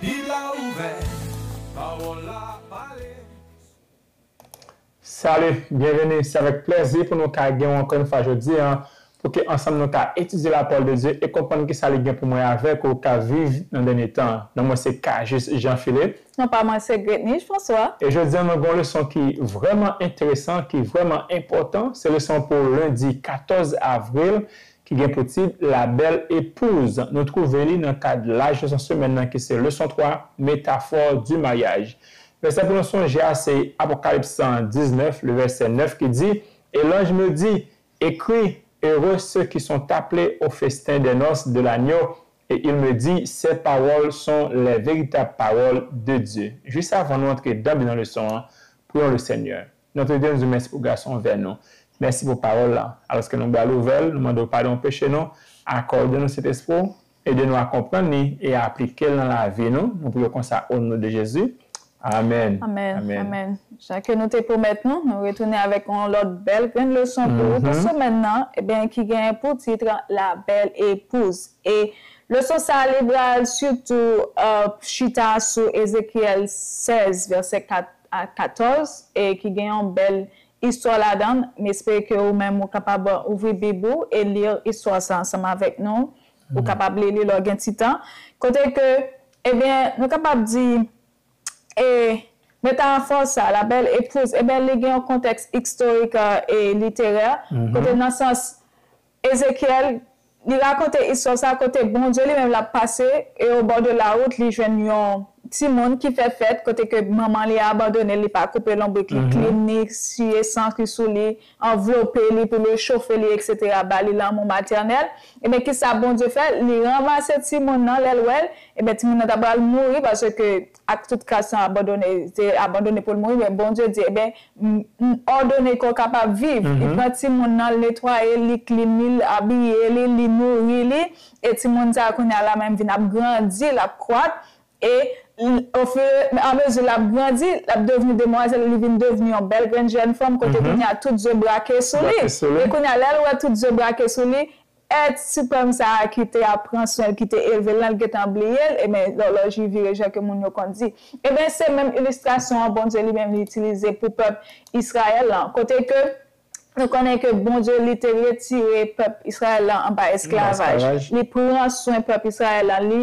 Bib la ouvè, pawòl la pale. Salut! Byenveni! Se avèk plèzi pou nou ka gen ou ankò yon fwa jodi an pou ke ansanm nou ka etidye la pawòl de Dye e konprann kisa li gen pou mwen avèk ou ka viv nan dènye tan an. Non mwen se Cajuste Jean Philippe. Non pa mwen se Gretnise François. E jodi an nou gen yon leson ki vrèman enteresan, ki vrèman enpòtan, se leson pou lendi 14 avril, ki gen pou tit La bèl epouz, nou twouve li nan kad laj leson semèn nan ki se leson 3, metafò di maryaj. Vèsè pou nou sonje a se Apokalips 19, le vèsè 9 ki di, E lanj me di, Ekri, Ere se ki son taple o festen dè nòs de lanyo, e il me di, Sè pawòl son lè veritab pawòl de Dye. Jis avan nou antre danble nan leson an, priyons le Seigneur. Notre Dame di w mèsi pou gason vè nou. Mèsi pou pawòl la. Alòske nou bral ouvè l, nou mande w padon peche nou, akòde nou Sentespri w, ede nou a konprann li e aplike l nan lavi nou. Nou priye w konsa o non de Jezi. Amèn. Amen, amen. Jan ke nou te pwomèt nou, nou retounen avèk yon lòt bèl grenn leson pou ou pou semèn nan, eben ki genyen pou tit La belle épouse. E leson sa li bral sitou chita sou Ezekyèl 16 vèsè 4 a 14 e ki gen yon bèl istwa ladan l. M espere ke ou menm ou kapab ouvri Bib ou e li istwa sa ansanm avèk nou. Ou kapab li li lè w gen ti tan. Kote ke, ebyen, nou kapab di, e metafò sa, la bèl epouz, ebyen li gen yon kontèks istorik e literè, kote nan sans, Ezekyèl, li rakonte istwa sa kote Bondye li menm l ap pase e o bò de lawout li jwenn yon timoun ki fè fèt kote ke manman li abandone l li pa koupe lonbrik li klin ni siye san ki sou li anvlope li pou l rechofe li eksetera ba li lanmou matènèl ebyen kisa Bondye fè li ranmase timoun nan lè l wè l ebyen timoun nan ta pral mouri paske Ak tout ka san abandone, se abandone pou l mouri, men Bondye di, Eben, m òdone kò kapab viv. Li pran timoun nan, l netwaye l, li klin li, l abiye li, li nouri li, e timoun sa a kounye a la menm vin ap grandi, l ap kwak, e amezi l ap grandi, l ap devni demwazèl, li vin devni yon bèl grenn jèn fanm, kote kounye a tout je brake sou li. E kounye a, lè l wè tout je brake sou li, Èt siprèm sa a ki te ap pran swen l, ki te elve l lan, l gentan bliye l, enben, lòlòj li vire jan ke moun yo konn di. Enben, se menm ilistrasyon an Bondye li menm li itilize pou pèp Israël lan, kote ke nou konnen ke Bondye li te retire pèp Israël lan anba esklavaj, li pran swen pèp Israël lan, li.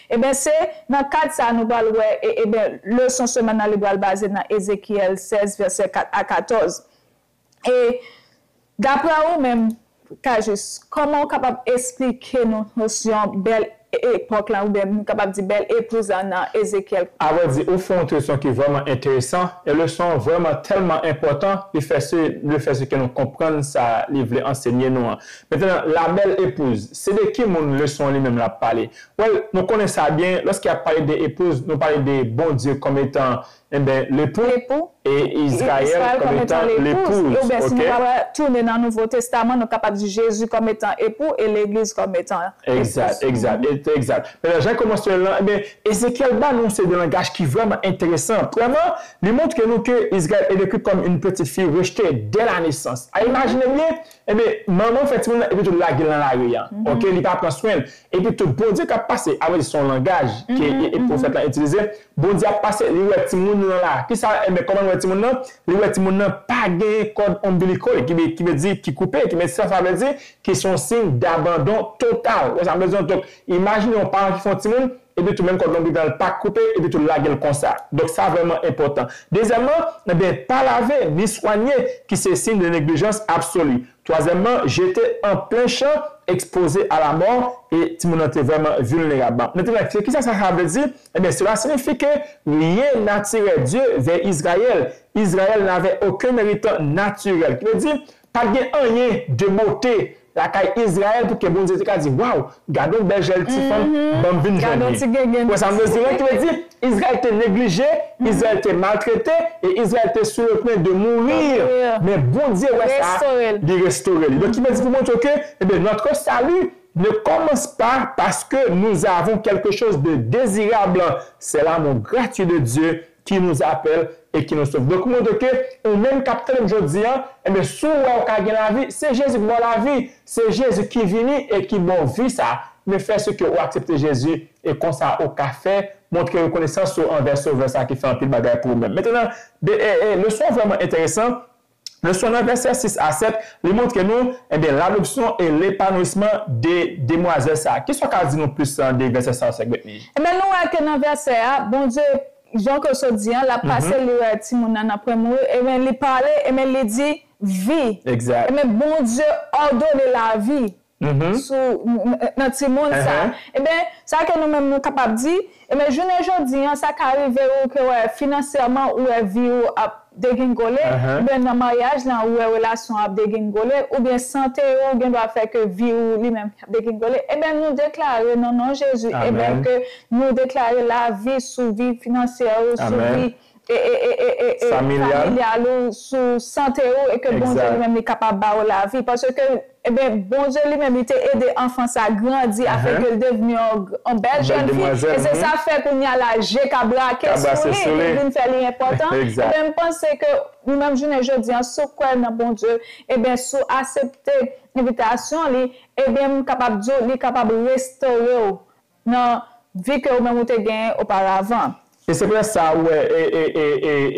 Eben se nan kad sa nou pral wè e eben leson semèn nan li pral baze nan Ezekyèl 16 vèsè 4 a 14. E daprè ou menm Cajuste, kòman ou kapab esplike nou nosyon bèl epòk lan oubyen nou kapab di bèl epouz lan nan Ezekyèl? A vrè di ou fè yon leson ki vrèman enteresan e leson an vrèman tèlman enpòtan li fè se le fè se ke nou konprann sa li vle ansenye nou an. Mettenan la bèl epouz se de ki moun leson an li menm l ap pale? Well, nou konnen sa byen, lòske y ap pale de epouz, nou pale de Bondye kòm etan, enben, lepou, e Izrayèl kòm etan lepouz, oubyen si nou ta pral tounen nan Nouvo Testaman, nou kapab di Jezi kòm etan epou e Legliz kòm etan epouz. Egzat, egzat, et egzat. Men nan Jan kòmansman l lan, enben, Ezekyèl ba nou yon seri de langaj ki vrèman enteresan. Premyèman, li montre nou ke Izrayèl e dekri kòm yn peti fi rechte dè lanesans. A imajine byen, Ebyen manman fè timoun nan epi tou lagel nan lari an ok li pa pran swenl epi tou bondye kap pase a vrèdi son langaj ke profèt lan itilize bondye ap pase li wè timoun lan la kisa ebyen kòman li wè timoun nan li wè timoun nan pa genyen kòd ombilical ki vle di ki koupe ki sa sa vle di ki son siy dabandon total ou wè sa vle di non donk imajine yon paran ki fè yon timoun epi tou menm kòd lonbrit lan pa koupe epi tou lage l konsa donk sa vrèman enpòtan dezyèman enben pa lave ni swanye ki se siy de neglijans absoli twazyèman jete an plen chan ekspoze a lamò e timoun nan te vrèman vilnerab mettenan ki sa sa vle di enben sela sinifi ke ryen natirè Dye vè Izrayèl Izrayèl navè oken eritan natirèl ki vle di Pa t gen anyen de bote lakay Izrayèl pou ke Bondye te ka di, Waw, gade yon bèl jèl ti fanm, ban m vin jwenn li. Ou wè sa m vle di? Donk ki vle di, Izrayèl te neglije, Izrayèl te maltrete, e Izrayèl te sou le pwen de mourir. Men Bondye wè sa, li restore li. Donk ki vle di pou montre w ke, enben, notre salut ne commence pas parce que nous avons quelque chose de désirable, c'est l'amour gratuit de Dieu ki nou apèl e ki nou sove. Donk li montre ke ou menm kap tande m jodi an, enben si w wè ou ka gen lavi, se Jezi ki ba w lavi, se Jezi ki vini e ki ba w vi sa a. Men fè si ke ou aksepte Jezi e konsa ou ka fè montre rekonesans ou anvè Sovè sa a ki fè anpil bagay pou ou menm. Mentnan, de e e leson an vrèman enteresan, Leson nan vèsè 6 a 7, li montre nou, enben, ladopsyon e lepanouisman de demwazèl sa a. Ki sa w ka di nou plis de vèsè sa yo, sè Guetny? Enben, nou wè ke nan vèsè a, Bondye, jan ke w sot di an, l ap pase, li wè timoun nan nan pre mouri, enben, li pale, enben, li di, Vi. Egzat. Enben, Bondye òdone lavi. sou nan timoun sa. Enben, sa ke nou menm nou kapab di, enben jounen jodi an sa ka rive ou ke wè finansèman ou wè vi ou ap degingole, enben nan maryaj lan ou wè relasyon an ap degingole, oubyen sante ou gen dwa fè ke vi ou li menm ap degingole, enben nou deklare nan non Jezi enben ke nou deklare lavi sou vi finansyè ou, sou vi. Amen. Familial ou sou sante ou e ke Bondye li menm li kapab ba ou lavi paske eben Bondye li menm li te ede anfan sa grandi afin ke li devni yon bèl jèn fi e se sa fè kounye a la je ka brake sou li li vin fè li enpòtan eben m panse ke nou menm jounen jodi a si w kwè nan Bondye eben si w asepte envitasyon li eben m kapab di w li kapab restore w Nan vi ke ou menm ou te gen oparavan. E se prèske sa ou wè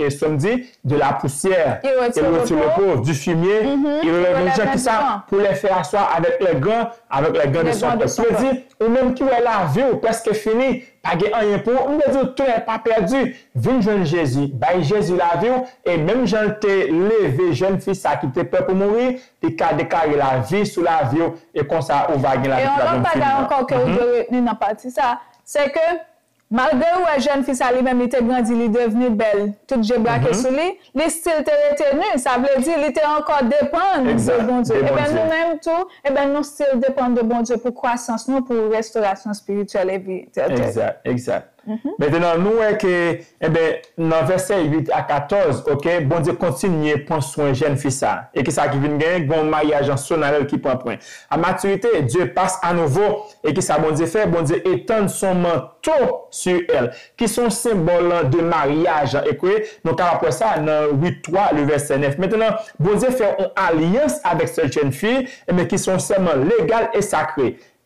e sè m di, de la poussière, il retire le repos, du fumier, il relève un jour, ki sa, pour les faire asseoir avec les grands, avec les grands de son peuple. Vle di, ou menm ki wè lavi ou prèske fini, pa gen anyen pou ou, m vle di ou tounen pa pèdi, vin jwenn Jezi, bay Jezi lavi ou, e menm jan l te leve jèn fi sa ki te pè pou mouri, Li ka deklare lavi sou lavi w e konsa ou va gen lavi ki pa janm fini an. E yon lòt bagay ankò ke ou dwe retni nan pati sa, se ke malgre ou wè jèn fi sa li menm li te grandi, li devni bèl, tout je brake sou li, li stil te rete nu, sa vle di li te ankò depann de Bondye. Eben nou menm tou, eben nou stil depann de Bondye pou kwasans nou, pou restorasyon espirityèl epi tèl tèl. Egzat, egzat. Mentnan nou wè ke enben nan vèsè 8 a 14 ok Bondye kontinye pwan swen jèn fi sa e kisa ki vin gen gen yon maryaj an sonarèl ki pwan pwen a matirite Dieu passe a nouveau e kisa Bondye fè Bondye etann son manto su èl ki son senbòl de maryaj an e ke nou kapab wè sa nan Rut 3 le vèsè 9 mentnan Bondye fè yon alyans avèk sèt jèn fi enben ki son sèman legal e sakre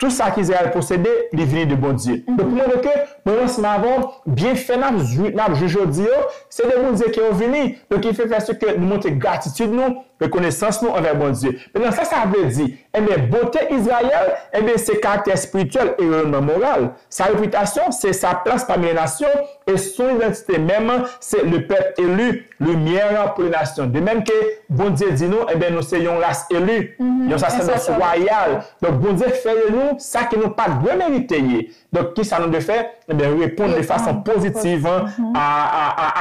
Tou sa ke Izrayèl posede, li vini de Bondye. Donk pou montre ke mwen ransman avè w, byenfè n ap jwi, n ap jwi jodi yo, se de Bondye ke yo vini. Donk ki fè prèske nou montre gratitid nou, rekonesans nou anvè Bondye. Mentnan sa sa vle di? Enben, bote Izrayèl, enben se karaktè espirityèl e reyonnman moral. Sa repitasyon, se sa plas pami lè nasyon, e son idantite menm, se le pèp eli. Limyè an pou nasyon. De menm ke Bondye di nou, enben nou se yon ras eli, yon sasèdòs wayal. Donk Bondye fè de nou sa ke nou pa dwe merite ye. Donk kisa nou dwe fè? Enben reponn de fason pozitiv a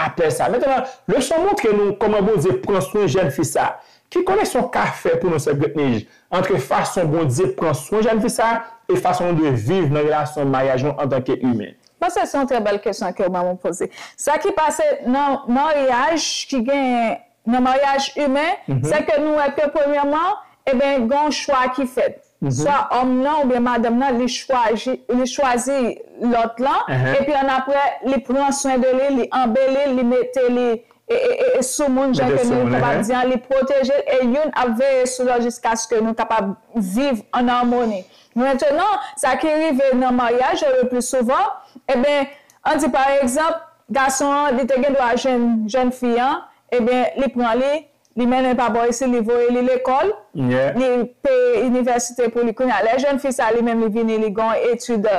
apèl sa. Mentènan, leson montre nou kòman Bondye pran swen jèn fi sa. Ki koneksyon ka fè pou nou sè Britnij antre fason Bondye pran swen jèn fi sa e fason nou dwe viv nan relasyon maryaj nou antanke imen? Bon se yon trè bèl kesyon ke ou banm ou poze. Sa ki pase nan maryaj ki genyen nan maryaj imen se ke nou wè ke premyèman eben gen yon chwa ki fèt. Swa òm nan oubyen madanm nan li chwaji li chwazi lòt lan epi annapre li pran swen de li, li anbeli l, li mete li sou moun jan ke nou kapab di an, li pwoteje l e youn ap veye sou lòt jiskaske nou kapab viv an amoni. Mentenan, sa ki rive nan maryaj yo lepli souvan, eben, an di pa egzanp, gason an, li te gen dwa jwenn jèn fi an, eben, li pran li, li mennen pa bò isit, li voye li lekòl, li peye inivèsite pou li. Kounye a, lè jèn fi sa a li menm li vini, li gen yon etid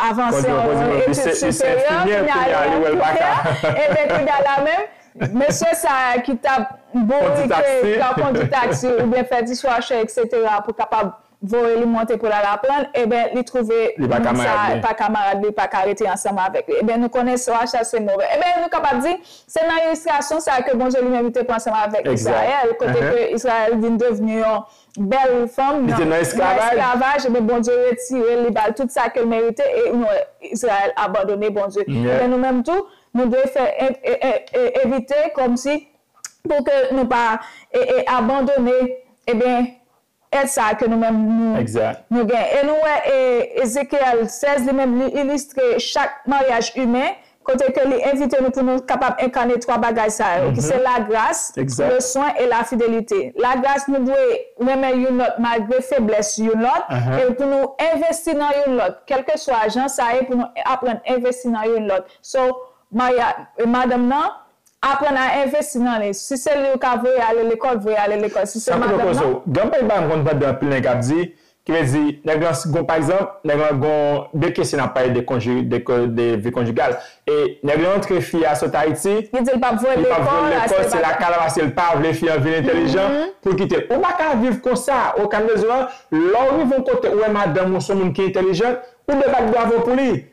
avanse, yon etid siperyè, kounye a li enplike, eben, kounye a la menm, mesye sa a ki t ap bourike, ki t ap kondi taksi oubyen fè diswashe eksetera pou kapab Voye li monte pou l al aprann, eben li twouve moun sa a pa kamarad li, pa ka rete ansanm avèk li. Eben nou konnen so a chase move. Eben nou kapab di, se nan ilistrasyon sa a ke Bondye li menm li te pran ansanm avèk Israël, kote ke Israël vin devni yon bèl fanm nan esklavaj, eben Bondye retire l, li ba l tout sa ke l merite, e nou wè Israël abandone Bondye. Eben nou menm tou, nou dwe fè evite kòmsi pou ke nou pa abandone, eben, Èd sa a ke nou menm nou nou gen. E nou wè Ezekyèl 16 li menm li ilistre chak maryaj imen kote ke li envite nou pou nou kapab enkane twa bagay sa yo ki se lagras, leswen e lafidelite. Lagras nou dwe renmen youn lòt malgre feblès youn lòt e pou nou envesti nan youn lòt kèlkeswa jan sa ye pou nou aprann envesti nan youn lòt. So maryaj madanm nan Aprann a envesti nan li. Si se li ou ka voye ale lekòl, voye ale lekòl. Si se madanm nan. Gen anpil bagay m konn tande anpil nèg ap di, ki vle di nèg lan si gon pa egzanp, nèg lan gon de kesyon n ap pale de konji, de vi konjigal e nèg lan antre fi a sot Ayiti, Li di l pa p voye l li pa p voye l lekòl, lekòl, achte se bagay. lakay la paske l pa vle fi an vin entèlijan pou l kite l. Ou pa ka viv konsa okap de zo a, lè w rive yon kote ou wè madanm ou s on moun ki entèlijant, ou dwe bat bravo pou li.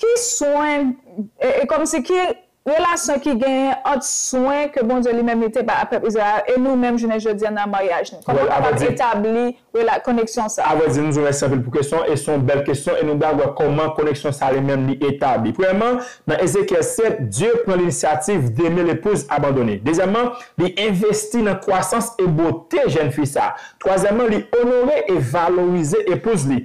Ki swen, e kòmsi ki relasyon ki genyen ant swen ke Bondye li menm li te bay ak pèp Izrayèl la e nou menm jounen jodi an nan maryaj nou? Kòman nou kapab etabli rela, koneksyon sa a? Avrèdi, nou di w mèsi anpil pou kesyon an e se yon bèl kesyon e nou pral wè kòman koneksyon sa a li menm li etabli. Premyèman, nan Ezekyèl 7, Dye pran linisyativ d'aimer l'épouse abandonnée. Dezyèmman, li envesti nan kwasans e bote jèn fi sa a. Twazyèmman, li onore e valorize epouz li.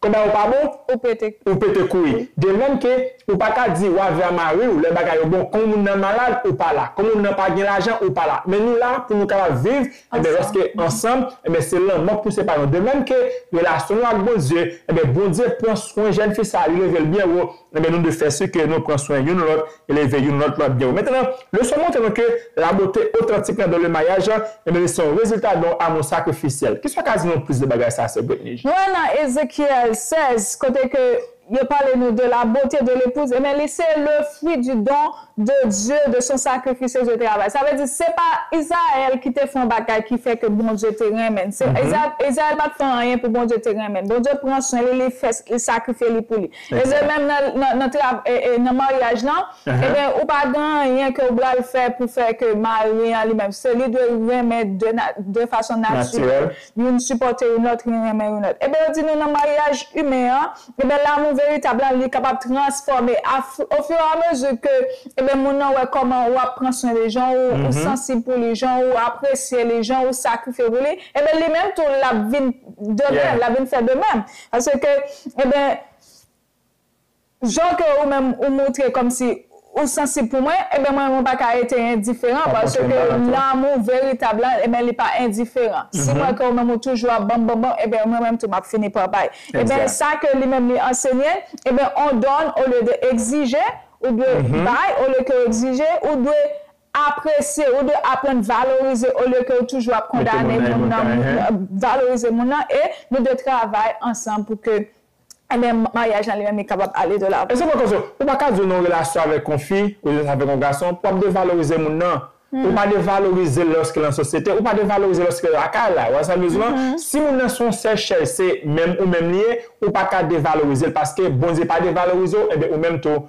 Konba yo pa bon? Ou pete kou. Ou pete kou wi. De menm ke ou pa ka di wa vra mari ou lè bagay yo bon kon moun nan malad ou pa la, kon moun nan pa gen lajan ou pa la. Men nou la pou nou kapab viv enben lòske ansanm enben se lanmò k pou separe nou. De menm ke relasyon nou ak Bondye enben Bondye pran swen jèn fi sa li leve l byen wo Renmen nou de fè si ke nou pran swen youn lòt, eleve youn lòt lan byen wo. Mentnan, leson montre nou ke la bote otantik lan don le maryaj lan, enben li se yon rezilta don amou sakrifisyèl. Kisa w ka di nou plis de bagay sa a, sè Britnij? Nou wè nan Ezekyèl 16, kote ke yo pale nou de la bote de lepouz, enben li se le fwi di don de Dye, de son sakrifis e de travay. Sa vle di, se pa Izrayèl ki te fè yon bagay ki fè ke Bondye te renmen n. Se, Izrayèl pa t fè anyen pou Bondye te renmen n. Bondye pran swen li, li fè, li sakrifye li pou li. E de mèm nan trav e nan maryaj lan, eben ou pa gen anyen ke ou bral fè pou fè ke mari an li menm se li dwe renmen de na de fason natirèl, youn sipòte youn lòt, youn renmen youn lòt. Eben yo di nou nan maryaj imen an, eben lamou veritab lan li kapab transfòme a fu o fur a mezi ke eben moun nan wè kòman ou ap pran swen li, jan ou ou sansib pou li, jan ou apresye li, jan ou sakrifye pou li, eben li menm tou lap vin de mèm, lap vin fè de mèm. Parce que eben jan ke ou menm ou moutre kòm si ou sansib pou mwen eben mwen mwen pa ka rete endiferan parce que lanmou veritab la eben li pa endiferan si mwen ke ou menm ou toujou ap banm bonbon eben mwen menm tou map fini pa bay eben sa ke li menm li ansenye eben on donne au lieu de exige ou dwe bay au lieu ke ou exige ou dwe Apresye ou dwe aprann valorize olye ke ou toujou ap kondane moun nan valorize moun nan e nou dwe travay ansanm pou ke enben maryaj lan li menm li kapab ale de lavan. Esè mwen konse ou pa ka di ou nan yon relasyon avèk yon fi ou jis avèk yon gason pou ap devalorize moun nan ou pa devalorize lòske lan sosyete ou pa devalorize lòske lakay la ou wè sa mwen di lan si moun nan se yon sèchèl se menm ou menm li ye ou pa ka devalorize l paske Bondye pa devalorize w enben ou menm tou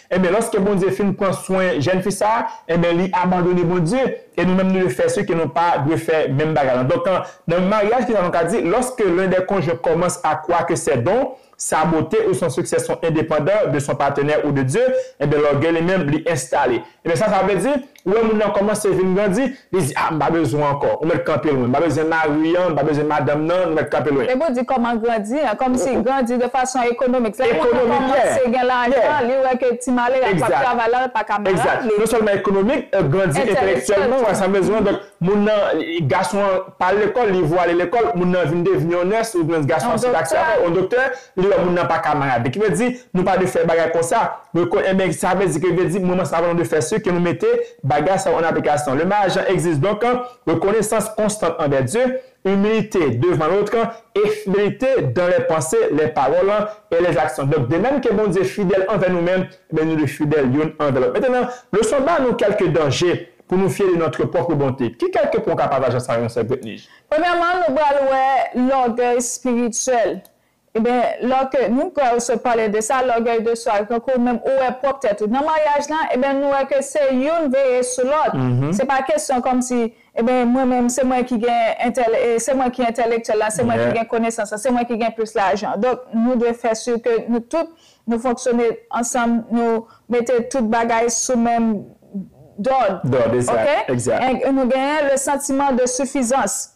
Enben, lòske Bondye fin pran swen jèn fi sa a, enben li abandone Bondye, e nou menm nou dwe fè si ke nou pa dwe fè menm bagay lan. Donk, nan maryaj kisa nou ka di, lòske len dè konjwen kòmanse a kwa ke sè don sa bote ou son siksè son endepandan de son patenè ou de Dye, enben lògèy li menm li enstale. Enben sa sa vle di? Ou wè moun nan kòmanse vin grandi, li di ah m pa bezwen w ankò, ou mèt kanpe lwen, m pa bezwen mari an, m pa bezwen madanm nan, nou mèt kanpe lwen. Depi w di kòman grandi an, kòmsi grandi de fason ekonomik, lè moun nan kòmanse gen lajan, li wè ke ti malere a k ap travay la, l pa ka malad, li. Non sèlman ekonomik, grandi entelektyèlman, wè sa m bezwen an, donk moun nan, gason an pa al lekòl, li vwale lekòl, moun nan vin devni yon nès, yon ti gason a se taksi a fè, yon doktè, Li wè moun nan pa kamarad. Ki vle di, nou pa dwe fè bagay konsa. Rekonn, Enben, sa vle di ke, vle di, mwen mwen sa vle nou dwe fè si ke nou mete bagay sa yo an aplikasyon. Le mari Jean existe donc, rekonesans konstant anvè Dieu, humilité devant l'autre, et fidélité dans les pensées, les paroles, et les actions. Donc, de même ke Bondye fidèl anvè nou menm, enben nou dwe fidèl youn anvè lòt. Mettenan, leson ba nou kèlke danje pou nou fye de notre propre bonté. Ki kèlke pwen ou ka pataje ak sa yo, Sè Bretnij? Premyèman, nou pral wè lògèy spirityèl. Ebyen lò ke nou pral sot pale de sa, lògèy de swa, tankou menm ou wè pwòp tèt ou nan maryaj lan, ebyen nou wè ke se youn veye sou lòt. Se pa kesyon kòmsi, ebyen mwen menm se mwen ki gen entèl e se mwen ki entèlektyèl la, se mwen ki gen konesans lan, se mwen ki gen plis lajan. Donk nou dwe fè si ke nou tout nou fonksyone ansanm, nou mete tout bagay sou menm dòd. Dòd, egzat, egzat. Nou genyen le sentiment de suffisance.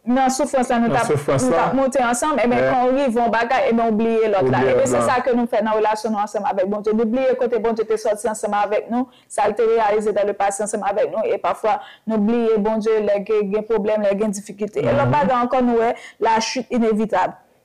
Nan soufrans la nou tap nou tap monte ansanm eben kan ou rive yon bagay eben ou bliye lòt la eben se sa ke nou fè nan relasyon nou ansanm avèk Bondye nou bliye kote Bondye te sòti ansanm avèk nou sal te reyalize dan le pase ansanm avèk nou e pafwa nou bliye Bondye lè ke gen pwoblèm lè gen difikite e lòt bagay ankò nou wè la chute inevitab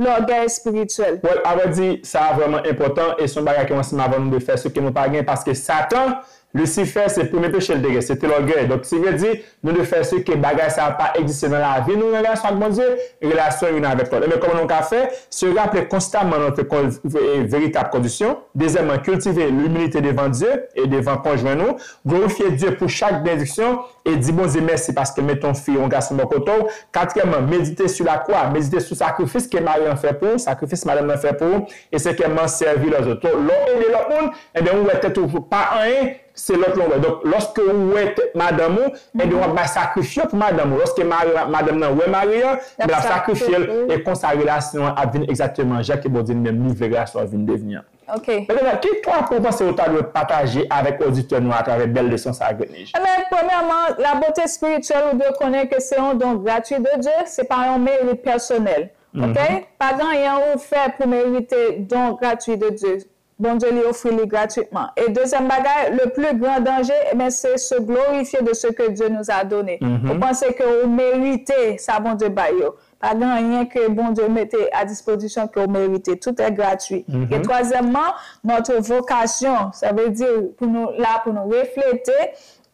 Lògèy espirityèl. Well, avrèdi, sa a vrèman enpòtan e se yon bagay ke yon ansanm avan nou dwe fè se ke nou pa gen paske Satan, Lisifè, se premye peche li te gen, se te lògèy. Donk, se vle di, nou dwe fè se ke bagay sa a pa egziste nan lavi nou, nan relasyon ak Bondye, relasyon youn avèk lòt. Enben, kòman nou ka fè? Se raple konstaman nan ke kon, e, veritab kondisyon. Dezyèmman, kiltive lumilite devan Dye e devan konjwen nou. Glorifye Dye pou chak benediksyon E di Bondye mèsi paske l mete yon fi, yon gason bò kote w. Katriyèmman, medite sou lakwa, medite sou sakrifis ke mari an fè pou ou, sakrifis madanm nan fè pou ou, e senkyèmman, sèvi lèzòt. To, lè w ede lòt moun, enben ou wè tèt ou pa anyen, se lòt lan w wè. Donk, lòske ou wè tèt madanm ou, enben w ap bay sakrifye pou madanm ou. Lòske mari an, madanm nan wè mari an, enben l ap sakrifye l, e konsa relasyon an ap vin egzakteman jan ke Bondye li menm li vle relasyon an vin devni an. Ok. Ebenvwa, ki pwa pou w panse ou ta dwe pataje avèk oditè nou atravè bèl leson sa a Grenij? Enben, premyèman, labote espirityèl ou dwe konnen ke se yon don gratui de Dye, se pa yon merit pèsonèl. Ok? Pa gen anyen ou fè pou merite don gratui de Dye. Bondye li ofri li gratuitman. E dezyèm bagay, le pli gran danje, enben, se se glorifye de se ke Dye nous a done. Ou panse ke ou merite sa Bondye bay yo. Pa gen anyen ke Bondye mete a dispozisyon ke w merite. Tout è gratwi. E twazyèmman, notre vocation, sa vle di pou nou la pou nou reflete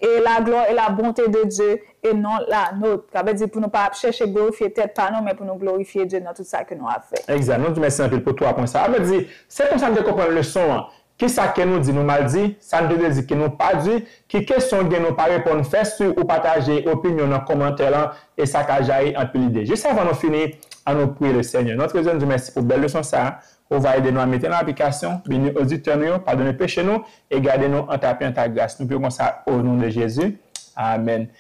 e la glwa e la bonte de Dye e non la nôtre. Sa vle di pou nou pa ap chèche glorifye tèt pa nou, men pou nou glorifye Dye nan tout sa ke nou ap fè. Egzat. Nou di mèsi anpil pou twa pwen sa a. Mèt di, Se konsa m te konprann leson an. Ki sa ke nou di nou mal di, sa n te vle di ke nou pa di, ki kesyon w gen nou pa reponn fè si ou pataje opinyon w nan komantè lan e sa ka jayi anpil ide. Jis avan nou fini, an nou priye le Senyè. Notre Dieu nou di w mèsi pou bèl leson sa a, ou va ede nou a mete l an aplikasyon, beni oditè nou yo, padone peche nou e gade nou an tape an ta gras. Nou priye konsa o non de Jezi. Amen.